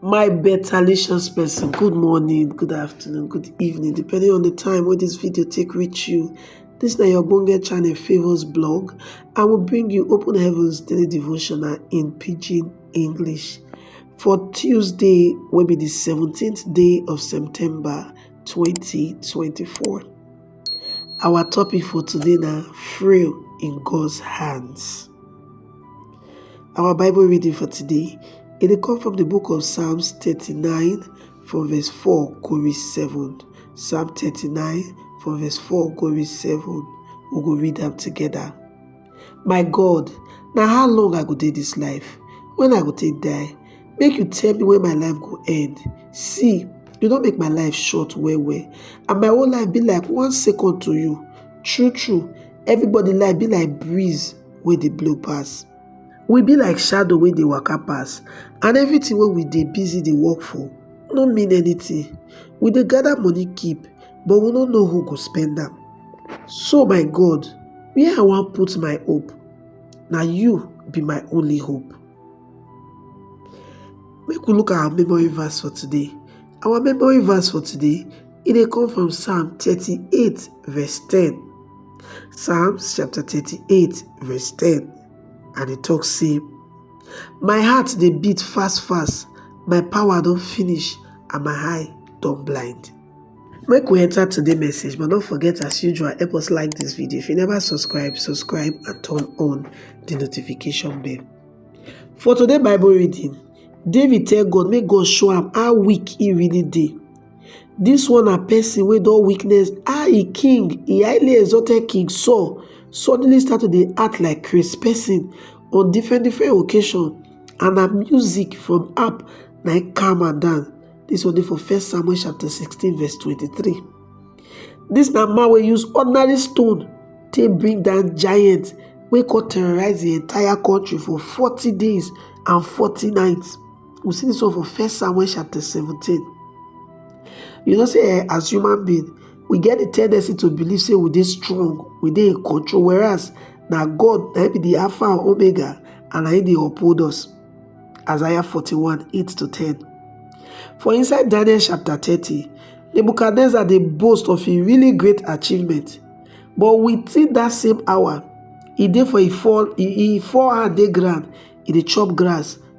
My betalicious person, good morning, good afternoon, good evening, depending on the time wey this video take reach you. This na your ogbonge channel Favours Blog. I will bring you Open Heavens Daily Devotional in Pidgin English for Tuesday wey be the 17th day of September 2024. Our topic for today na Frail in God's Hands. Our Bible reading for today, it will come from the book of Psalms 39 from verse 4 go reach 7. Psalm 39 from verse 4 go reach 7. We go read them together. My God, now how long I go take this life? When I go take die? Make you tell me when my life go end. See, you don't make my life short well well. And my whole life be like one second to you. True, true. Everybody life be like breeze wey dey blow pass. We be like shadow wey dey waka pass and everything wey we dey busy dey work for no mean anything. We dey gather money keep but we no know who go spend am. So my God, where I wan put my hope? Na you be my only hope. Make we look our memory verse for today. Our memory verse for today e dey come from Psalm thirty eight verse ten. Psalms chapter 38 verse 10 and e talk say, My heart dey beat fast fast, my power don finish and my eye don blind. Make we enter today message but don't forget as usual help us like this video. If you never subscribe, subscribe and turn on the notification bell. For today Bible reading, David tell God make God show am how weak he really dey Dis one na person wey don witness how e king, e highly exalted king Saul suddenly start to dey act like craze person on different different occasion and na music from harp na im calm am down. Dis one dey for first Samuel chapter sixteen verse twenty-three. Dis na man wey use ordinary stone take bring down giant wey come terrorize the entire country for forty days and forty nights. We see this one for First Samuel chapter 17. You know, say eh, as human being, we get the tendency to believe say we dey strong, we dey in control, whereas na God na be the Alpha and Omega and na him dey uphold us. Isaiah 41, 8 to 10. For inside Daniel chapter 30, Nebuchadnezzar dey boast of a really great achievement. But within that same hour, e dey for e fall e fall hand dey ground, e dey chop grass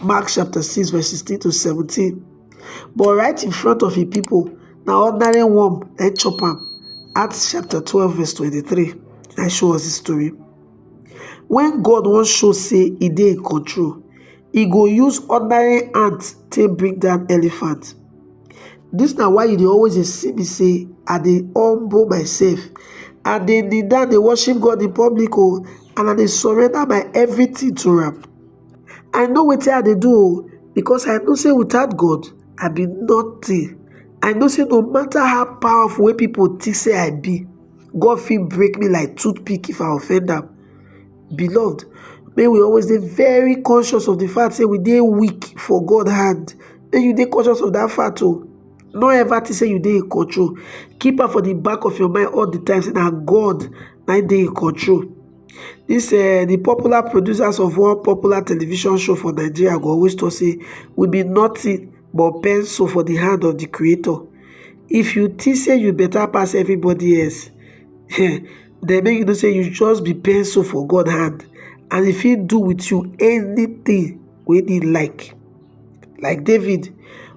Mark chapter 6 verse 16 to 17. But right in front of the people, now ordinary worm and chop am. Acts chapter 12 verse 23 I show us the story. When God wants show say he dey in control, he go use ordinary ant to bring down elephant. This now why you dey always dey see me say I dey humble myself. I dey kneel down dey worship God in public oh, and I dey surrender my everything to am. I know wetin I dey do oh because I know say without God I be nothing. I know say no matter how powerful wey people think say I be, God fit break me like toothpick if I offend am. Beloved, may we always be very conscious of the fact say we dey weak for God hand. May you dey conscious of that fact oh. No ever think say you dey in control. Keep am for the back of your mind all the time say na God na dey in control. This uh, the popular producers of one popular television show for Nigeria go always talk say we be nothing but pencil for the hand of the creator. If you think say you better pass everybody else, then make you know say you just be pencil for God hand and if he do with you anything wey he like. Like David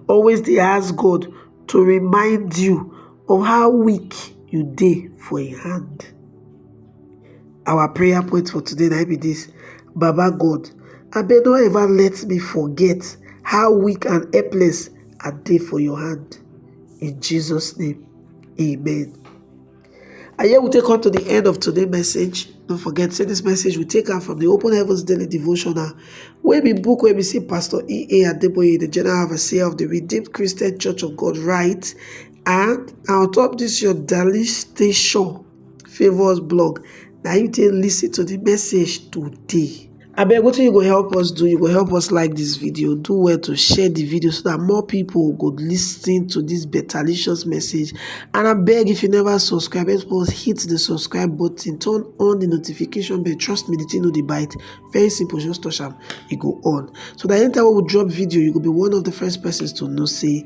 always dey ask God to remind you of how weak you dey for im hand. Our prayer point for today na be this. Baba God, abeg no ever let me forget how weak and helpless I dey for your hand. In Jesus' name, amen. And here we take come to the end of today's message. Don't forget, say this message we take out from the Open Heavens Daily Devotional, where we book where we see Pastor E.A. Adeboye, the General Overseer of the Redeemed Christian Church of God, right? And on top this your daily station favours blog na you take listen to the message today abeg wetin you go help us do you go help us like this video do well to share the video so that more people go listen to this betterlicious message and abeg if you never subscribe help us hit the subscribe button turn on the notification bell trust me the thing no dey bite very simple just touch am e go on so that anytime we drop video you go be one of the first persons to know say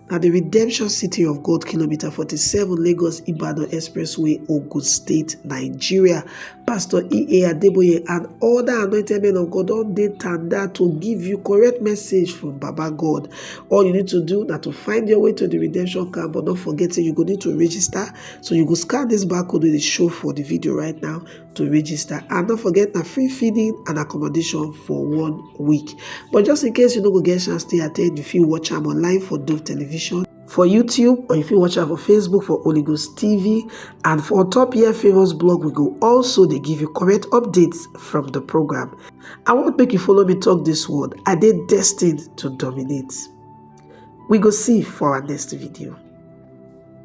Na di Redemption City of God Kilometer forty seven Lagos Ibadan Expressway Ogun State Nigeria Pastor E.A. Adeboye and other anointed men of God don dey tanda to give you correct message from Baba God. All you need to do na to find your way to di redemption camp but no forget say you go need to register so you go scan dis barcode wey dey show for di video right now to register and don't forget na free feeding and accommodation for one week but just in case you no go get chance to attend you fit watch am online for dove television for youtube or you fit watch am for facebook for holy ghost tv and for on top here favours blog we go also dey give you correct updates from the program i wan make you follow me talk this word i dey destined to dominate we go see for our next video